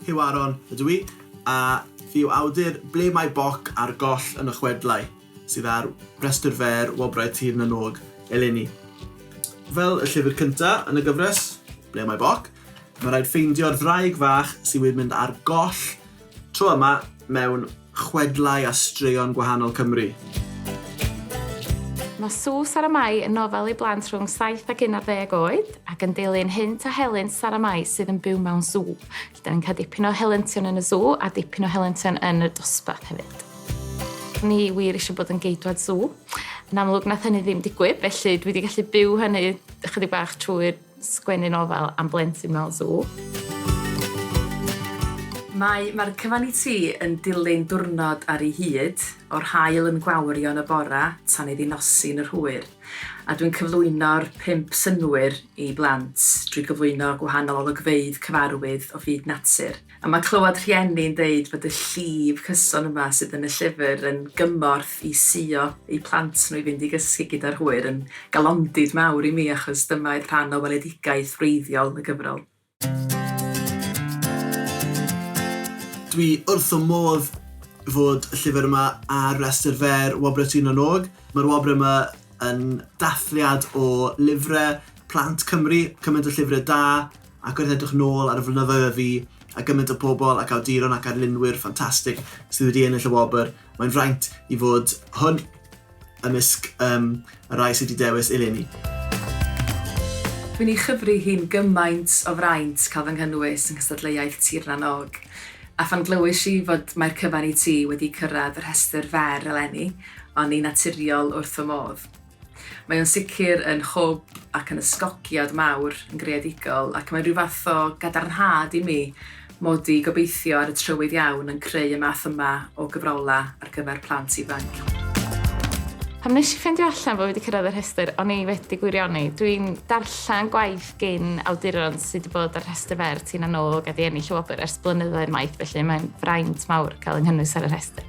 Huw Aaron ydw i, a fi yw awdur Ble Mae Boc a'r Goll yn y Chwedlau, sydd ar Restr Fer Wobrau Tir na nÓg eleni. Fel y llyfr cynta yn y gyfres, Ble Mae Boc, mae rhaid ffeindio'r ddraig fach sydd wedi mynd ar goll tro yma mewn chwedlau a straeon gwahanol Cymru. Mae Sws ar y Mae yn nofel i blant rhwng saith ac unarddeg oed, ac yn dilyn hynt a helynt Sara Mae sydd yn byw mewn sŵ. Felly, dan ni'n cael dipyn o helyntion yn y sŵ a dipyn o helyntion yn y dosbarth hefyd. O'n i wir eisiau bod yn geidwad sŵ. Yn amlwg, nath hynny ddim digwydd, felly dwi wedi gallu byw hynny ychydig bach trwy'r Sgwennu nofel am blentyn mewn sŵ. Mae Mae'r cyfan i ti yn dilyn diwrnod ar ei hyd, o'r haul yn gwawrio yn y bore tan iddi nosi yn yr hwyr, a dwi'n cyflwyno'r pump synnwyr i blant drwy gyflwyno gwahanol olygfeydd cyfarwydd o fyd natur. A mae clywed rhieni'n deud bod y llif cyson yma sydd yn y llyfr yn gymorth i suo eu plant nhw i fynd i gysgu gyda'r hwyr yn galondid mawr i mi achos dyma oedd rhan o weledigaeth wreiddiol y gyfrol. Dwi wrth fy modd fod y llyfr yma ar restr fer Wobrau Tŷ Nan Og. Mae'r wobrau yma yn dathliad o lyfrau plant Cymru, cymaint o llyfrau da, Ac wrth edrych nôl ar y flynyddoedd a fu, a gymaint o bobl ac awduron ac arlunwyr ffantastig sydd wedi ennill y wobr, mae'n fraint i fod hwn ymysg um, y rhai sydd wedi dewis eleni. Dwi'n ei chyfri hi'n gymaint o fraint cael fy nghynnwys yng nghystadleuaeth Tir na n-Og, a phan glywais i fod Mae'r Cyfan i Ti wedi cyrraedd y rhestr fer eleni, o'n i'n naturiol wrth fy modd. Mae o'n sicr yn hwb ac yn ysgogiad mawr yn greadigol ac mae'n rhyw fath o gadarnhad i mi mod i, gobeithio, ar y trywydd iawn yn creu y math yma o gyfrolau ar gyfer plant ifanc. Pan nes i ffeindio allan bod fi wedi cyrraedd y rhestr, o'n i wedi gwirioni. Dwi'n darllen gwaith gin awduron sydd wedi bod ar rhestr fer Tina Nog a 'di ennill y wobr ers blynyddoedd maith, felly mae'n fraint mawr cael yng nghynnwys ar y rhestr.